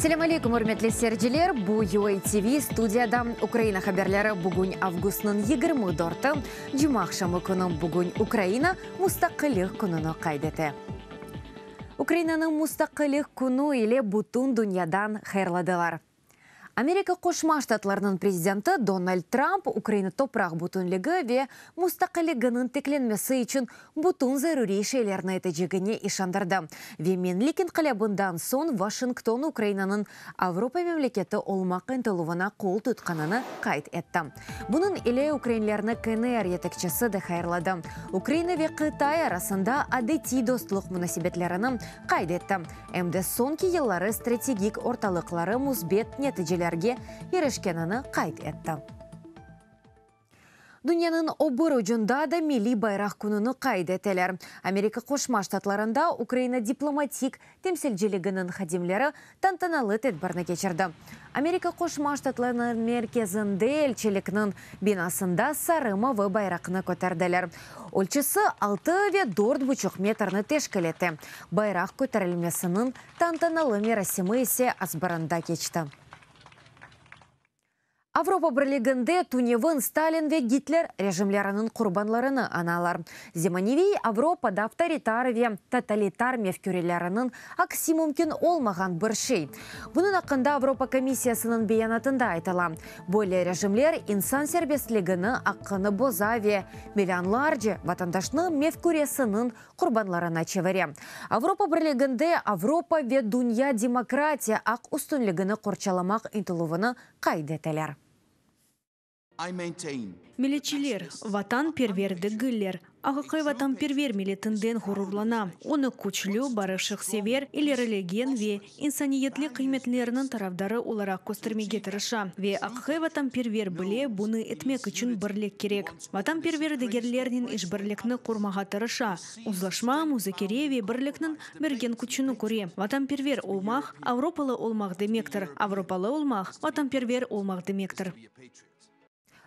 Selâm aleyküm, ürmetli seyirciler! Bu, UA TV, studiyada Ukraina haberleri. Bugün avgustnıñ yigirmi dörtü, cuma aqşamı künü. Bugün Ukraina mustaqillik kününi qayd ete. Ukrainanıñ Mustaqillik künü ile bütün dünyadan hayırladılar. Amerika Qoşma Ştatlarınıñ prezidenti Donald Tramp Ukraina topraq bütünligi ve mustaqilliginiñ tiklenmesi içün bütün zaruriy şeylerni etecegine işandırdı ve Menlik inqilâbından soñ Vaşington Ukrainanıñ Avropa memleketi olmaq ıntıluvına qol tutqanını qayd etti. Bunıñ ile ukrainlerni KNR yetekçisi de hayırladı. Ukraina ve Qıtay arasında adetiy dostluq munasebetlerini qayd etti, em de soñki yılları strategik ortalıqları müsbet neticelerge irişkenini qayd etti. Dünyanıñ o bir ucunda da milliy bayraq kününi qayd eteler. Amerika Qoşma Ştatlarında Ukraina diplomatik temsilciliginiñ hadimleri tantanalı tedbirni keçirdi. Amerika Qoşma Ştatlarınıñ merkezinde elçilikniñ binasında sarı mavı bayraqnı köterdiler. Ölçüsi altı ve dört buçuq metrni teşkil ete. Bayraq köterilmesiniñ tantanalı merasimi ise Asbırında keçti. Avropa Birliginde tünevin Stalin ve Gitler rejimleriniñ qurbanlarını analar. Zemaneviy Avropa da avtoritar ve totalitar mefküreleriniñ aksi mümkün olmağan bir şey. Bunıñ aqqında Avropa Komissiyasınıñ beyanatında aytıla, Böyle rejimler insan serbestligini, aqqını boza ve millionlarce vatandaşnıñ mefküresiniñ qurbanlarına çevire. Avropa Birliginde Avropa ve dünya demokratiya aq üstünligini qorçalamaq intilüvini qayd eteler. Milletçiler, vatanperver degiller. Aqiqiy vatanperver milletinden ğururlana, onı küçlü, barışıqsever, ilerilegen ve insaniyetlik qıymetleriniñ tarafdarı olaraq köstermege tırışa ve aqiqiy vatanperver bile bunı etmek içün birlik kerek. Vatanperver degerlernen işbirlikni qurmağa tırışa, uzlaşma, muzakere ve birlikniñ bergen küçüni köre. Vatanperver olmaq, avropalı olmaq demektir, avropalı olmaq, vatanperver olmaq demektir.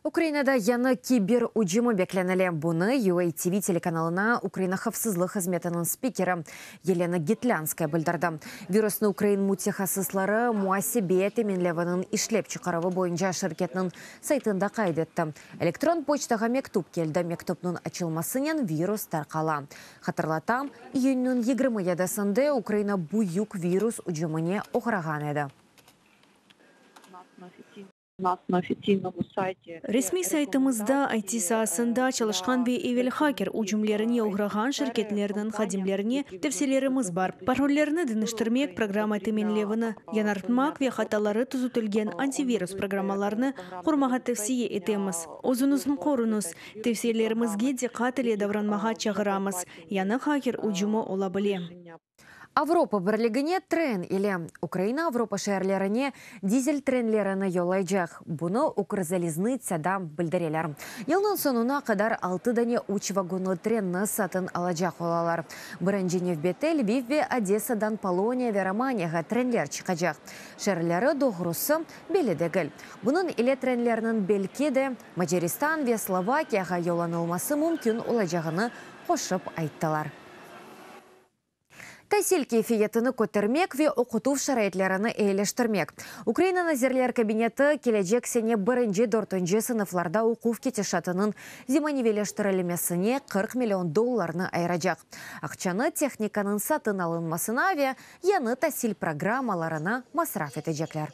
Ukrainada yañı kiber ücümi beklenile. Bunı UATV telekanalına Ukraina havfsızlıq hızmetiniñ spikeri Yelena Gitlânskaya bildirdi. Virusnı ukrain mütehassısları Muasebeye teminleviniñ işlep çıqaruvı boyunca şirketniñ saytında qayd etti, Elektron poçtağa mektüp keldi, mektüpniñ açılmasınen virus tarqala. Hatırlatam, iyünniñ yigirmi yedisinde Ukraina büyük virus ücümine oğrağan edi. Resmiy saytımızda IT saasında çalışqan ve evel haker ücümlerine uğrağan şirketlerniñ hadimlerine tevsiyelerimiz bar, parollerni deñiştirmek, programma teminlevini yañartmaq ve hataları tüzütilgen antivirus programmalarnı qurmağa tevsiye etemiz. Özüñizni qoruñız, tevsiyelerimizge diqqat ile davranmağa çağıramız, yañı haker ücümi ola bile. Avropa Birligine tren ile Ukraina Avropa şeerlerine dizel trenlerini yollaycaq. Bunı Ukrzaliznıtsâda bildireler. Yılnıñ soñuna qadar altı dane üç vagonlı trenni satın alacaq olalar. Birinci nevbette Lviv ve Odessadan Poloniya ve Romaniyağa trenler çıqacaq. Şeerleri doğrusı belli degil. Bunıñ ile trenlerniñ belki de Macaristan ve Slovakiyağa yollanılması mümkün olacağını qoşıp ayttılar. tasil keyfiyetini kötermek ve oqutuv şaraitlerini eyileştirmek, Ukraina Nazirler Kabineti kelecek sene birinci, dörtünci sınıflarda oquv ketişatınıñ zemaneviyleştirilmesine qırq million dollarnı ayıracaq. Aqçanı tehnikanıñ satın alınmasına ve yañı tasil programmalarına masraf etecekler.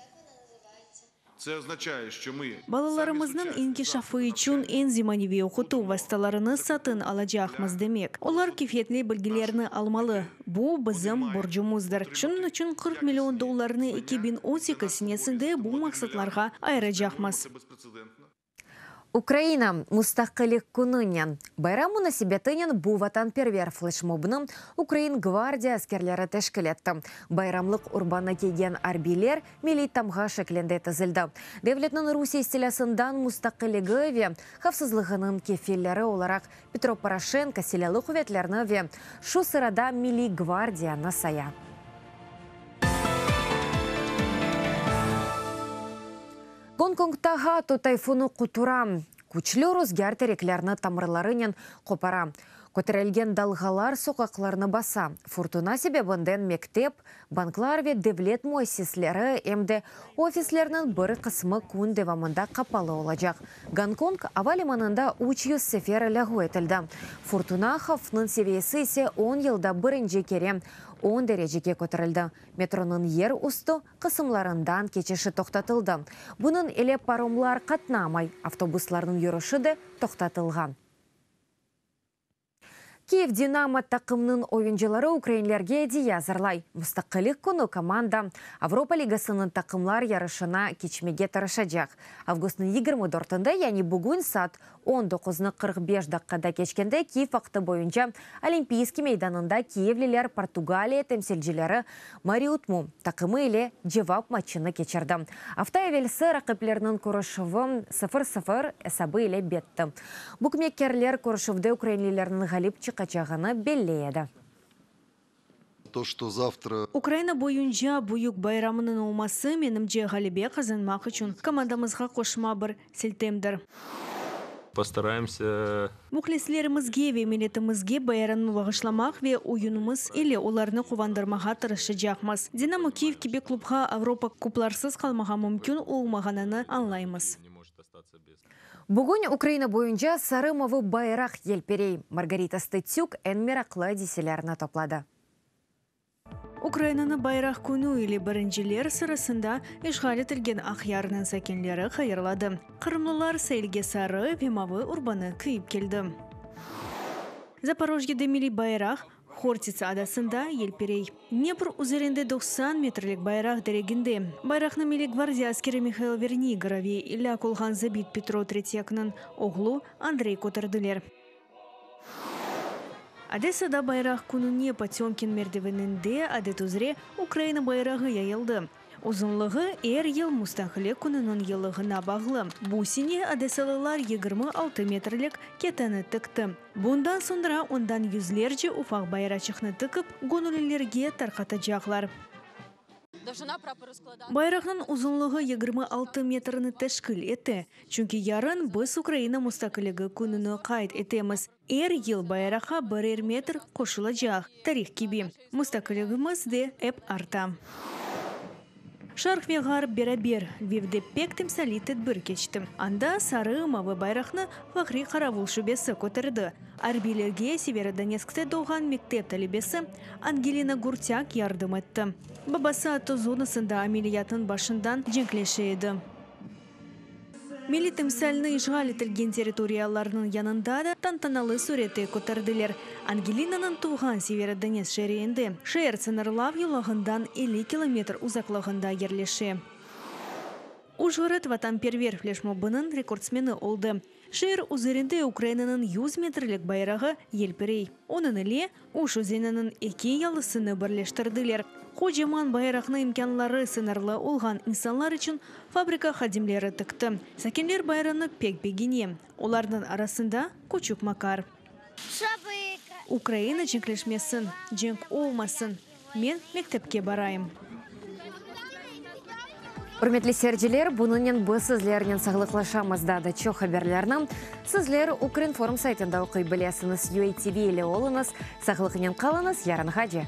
Balalarımıznıñ inkişafı içün eñ zemaneviy oqutuv vastalarını satın alacaqmız, demek, olar keyfiyetli bilgilerni almalı. Bu, bizim borcumızdır. Şunıñ içün qırq million dollarnı eki biñ on sekiz senesinde bu maqsatlarğa ayıracaqmız. Ukraina Mustaqillik Kününen bayram munasebetinen bu vatanperver fleşmobnı Ukrain Gvardiya askerleri teşkil etti. Bayramlıq urbanı kiygen arbiyler milliy tamğa şeklinde tizildi. Devletniñ Rusiye istilâsından mustaqilligi ve havfsızlığınıñ kefilleri olaraq Petro Poroşenko Silâlı quvetlerni ve şu sırada Milliy Gvardiyanı saya. Gonkongta Hatu tayfunı qutura. Küçlü ruzgâr tereklerni tamırlarınen qopara. Köterilgen dalğalar soqaqlarnı basa. Furtuna sebebinden mektep, banklar ve devlet müessisleri, em de ofislerniñ bir qısmı kün devamında qapalı olacaq. Gonkong ava limanında üç yüz sefer lâğu etildi. Furtuna havfnıñ seviyesi ise on yılda birinci kere on derecege köterildi. Metronıñ yer üstü, qısımlarından keçişi toqtatıldı. Bunıñ ile paromlar qatnamay, avtobuslarnıñ yürüşi de toqtatılğan. Kyiv Dinamo taqımnıñ oyuncıları ukrainlerge ediye azırlay. Mustaqillik künü komanda Avropa ligasınıñ taqımlar yarışına keçmege tırışacaq. Avgustnıñ yigirmi dörtinde, yani bugün saat On doquznı qırq beş daqqada keçkende Kiyev vaqtı boyunca Olimpiyskiy meydanında kiyevliler Portugaliya temsilcileri Mariutmu taqımı ile cevap matçını keçirdi. Afta evelsi raqiplerniñ körüşüvi sıfır sıfır esabı ile bitti. Bukmekkerler körüşüvde ukrainlilerniñ ğalip çıqacağını belli edi. Ukraina boyunca büyük bayramınıñ olması, menimce, ğalebe qazanmaq içün komandamızğa qoşma bir siltemdir. Muhlislerimizge ve milletimizge bayaranmı bağışlamaq ve oyunımız ile olarnı quvandırmağa tırışacaqmız. Dinamo Kyiv kibi klubğa Avropa kuplarsız qalmağa mümkün olmağanını añlaymız. Bugün Ukraina boyunca sarı-mavı bayraq yelpirey, Margarita Stetsük eñ meraqlı adiselerni topladı. Ukrainanı Bayraq künü ile birinciler sırasında işğal etilgen Aqyarnıñ sakinleri hayırladı. Qırımlılar sailge sarı ve mavı urbanı kiyip keldi. Zaporojyede milliy bayraq, Hortits adasında, yelpirey. Dnepr üzerinde doqsan metrlik bayraq dereginde. Bayraqnı Milliy gvardiya askeri Mihail Verniyıgorov ve ilâk olğan zabit Petro Tretyaknıñ oğlu Andrey köterdiler. Odessada Bayraq kününe Potemkin merdiveninde, adet üzre, Ukraina bayrağı yayıldı. Uzunlığı er yıl Mustaqilek kününiñ yılığına bağlı. Bu sene odesalılar yigirmi altı metrlik keteni tikti. Bundan soñra ondan yüzlerce ufaq bayraçıqnı tikip, göñüllilerge tarqatacaqlar. Bayraqnıñ uzunlığı yigirmi altı metrni teşkil ete, çünki yarın biz Ukraina Mustaqiligi kününi qayd etemiz. Er yıl bayraqqa birer metr qoşulacaq, tarih kibi, mustaqilligimiz de ep arta. Şarq ve Ğarp beraber Lvivde pek timsaliy tedbir keçti. Anda sarı-mavı bayraqnı Fahriy Qaravul şubesi köterdi. Arbiylerge Severodonetskte doğğan mektep talebesi Angelina Gurtâk yardım etti. Babası Ato zonasında ameliyatnıñ başından cenkleşe edi. Milliy timsalni işğal etilgen territoriyalarnıñ yanında da tantanalı sürette köterdiler. Angelinanıñ tuvğan Severodonetsk şeriinde, şeer sıñırlav yolağından elli kilometr uzaqlığında yerleşe. Ujğorod vatanperver fleşmobınıñ rekordsmeni oldı. Şeer üzerinde Ukrainanıñ yüz metrlik bayrağı yelpirey. Onıñ ile Uş özeniniñ eki yalısını birleştirdiler. Qocaman bayraqnı imkânları sıñırlı olğan insanlar içün fabrika hadimleri tikti. Sakinler bayranı pek begene, olarnıñ arasında küçük Makar. Ukraina cenkleşmesin, cenk olmasın, men mektepke barayım. Ürmetli seyirciler, bunınen biz sizlernen sağlıqlaşamız. Daa da çoq haberlerni sizler Ukrinform saytında oquy bilesiñiz. UATV ile oluñız, sağlıqnen qalıñız, yarınğace!